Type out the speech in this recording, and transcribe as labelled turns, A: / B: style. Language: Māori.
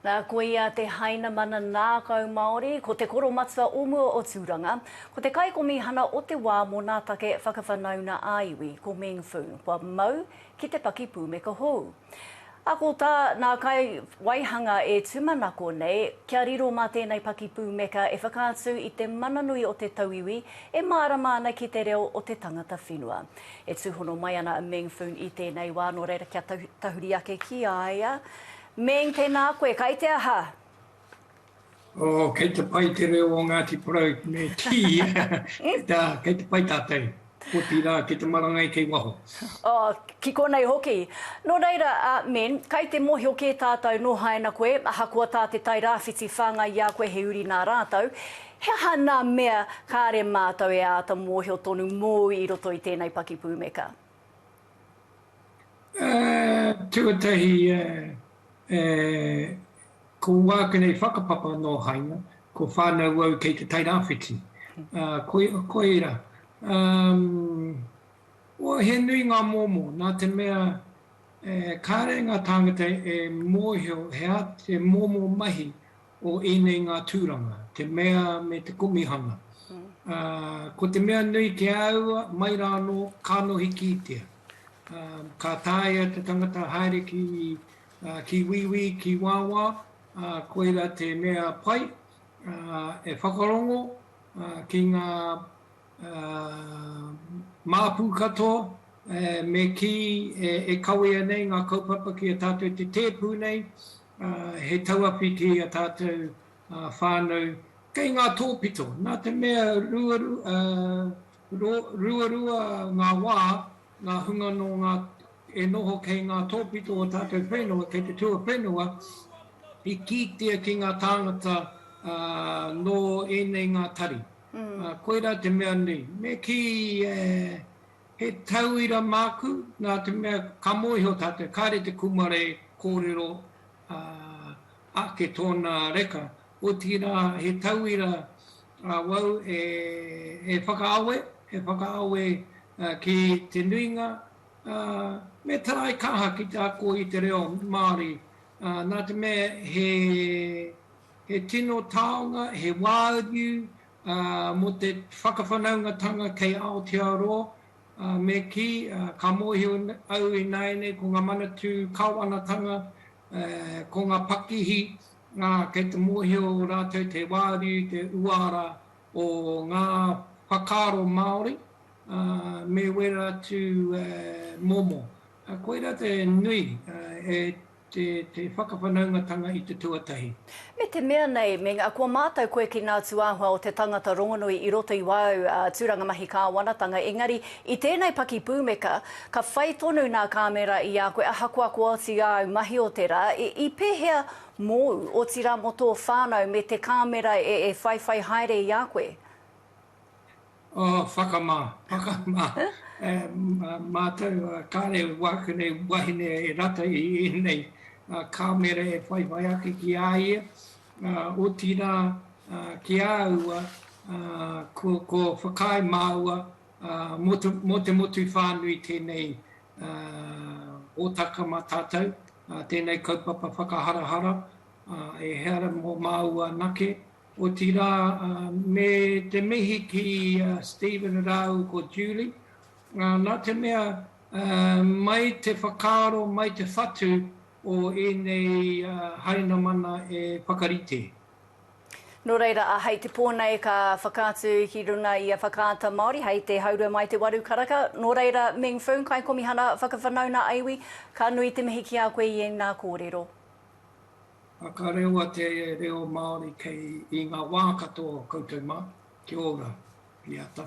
A: Nā, ko ia te Hainamana Nākau Māori, ko te koromatua o mua o Tūranga, ko te kaikomihana o te wā mō nā take whakawhanauna ā-iwi, ko Meng Foon, kua mau ki te pakipūmeka hou. Ako tā nā kai waihanga e tūmanako nei, kia riro mā tēnei pakipūmeka e whakaatu i te mana nui o te tauiwi e mārama ana ki te reo o te tangata whenua. E tūhono mai ana a Meng Foon i tēnei wā, nō reira kia tahuri ake ki a ia, Meng, Tēnā koe, kai te aha?
B: Oh, kei te pai te reo o Ngāti Porou me Tiia, nā, kei te pai tātou, otirā, ki te marangai kei waho. Oh, ki
A: konei hoki. Nō reira, a Meng, kai te mōhio kē tātou nō haina koe, ahakoa tā te Tairāwhiti whāngai i a koe he uri nā rātou, he aha nā mea kāre mātou e āta mōhio tonu mōu i roto i tēnei pakipūmeka?
B: Tuatahi, ko wākena i whakapapa nō Haina, ko whānau au kei te Tairāwhiti, ko ērā. He nui ngā momo, nā te mea kāre ngā tāngata e mōhio he momo mahi o ēnei ngā tūranga, te mea me te komihana. Ā, ko te mea nui ki a au, mai rā anō, ka nohi kītia. Ā, ka taea te tangata haere ki, ā, ki wīwī, ki wāwā, ā, koirā te mea pai, ā, e whakarongo, ā, ki ngā. māpu katoa, me kī e kawea nei ngā kaupapa ki a tātou i te tēpu nei, he tauawhiti i a tātou whānau kei ngā tōpito. Nā te mea ruarua ngā wā, ngā hunga nō ngā e noho kei ngā tōpito o tātou whenua, kei te tuawhenua, i kītia ki ngā tāngata nō ēnei ngā tari. Ā, koirā te mea nei, me kī, e, he tauira māku, nā te mea ka mōhio tātou, kāre te kūmara e kōrero, ā, ake tōna reka, otirā he tauira awau e, e whakaawe, e whakaawe ki te nuinga, ā, me taraikaha ki te ako i te reo Māori, ā, nā te mea he, He tino taonga, he wāriu mō te whakawhanaungatanga kei Aotearoa, me kī, ka mōhio au ināianei ko ngā Manatū Kāwanatanga, ko ngā pakihi, kei te mōhio rātou te wāriu, te uara o ngā whakaaro Māori, me wera atu momo. Koirā te nui e. te whakawhanaungatanga i te tuatahi. Me te mea
A: nei, me nga, kua mātau koe ki ngā tūāhua o te tangata rongonui i roto i wāu tūranga mahi kāwanatanga, engari, i tēnei paki pūmeka, ka whai tonu nā kāmera i a koe, ahakoa ko oti āu mahi o te rā, i pēhea mōu, otirā mō tō whānau me te kāmera e whaiwhai haere i a koe? Oh,
B: whakamā, whakamā. Mātou, kāre wāku nei wahine e rata i ēnei kāmera e whaiwhai ake ki a ia, otirā ki a aua ko whakaae māua mō te motu whānui tēnei hōtaka mā tātou, tēnei kaupapa whakaharahara, ehara mō māua anake, Otirā, me te mihi ki a Stephen rāua ko Julie, nā te mea mai te whakaaro, mai te whatu o ēnei Hainamana e whakarite.
A: Nō reira, hei te pō nei ka whakaatu ki runga i a Whakaata Māori hei te haurua mai te waru karaka. Nō reira, Meng Foong, Kaikomihana Whakawhanaunga Iwi, ka nui te mihi ki a koe i ēnā kōrero.
B: Whakarewa te reo Māori kei i ngā wā katoa o koutou mā. Kia ora, Piata.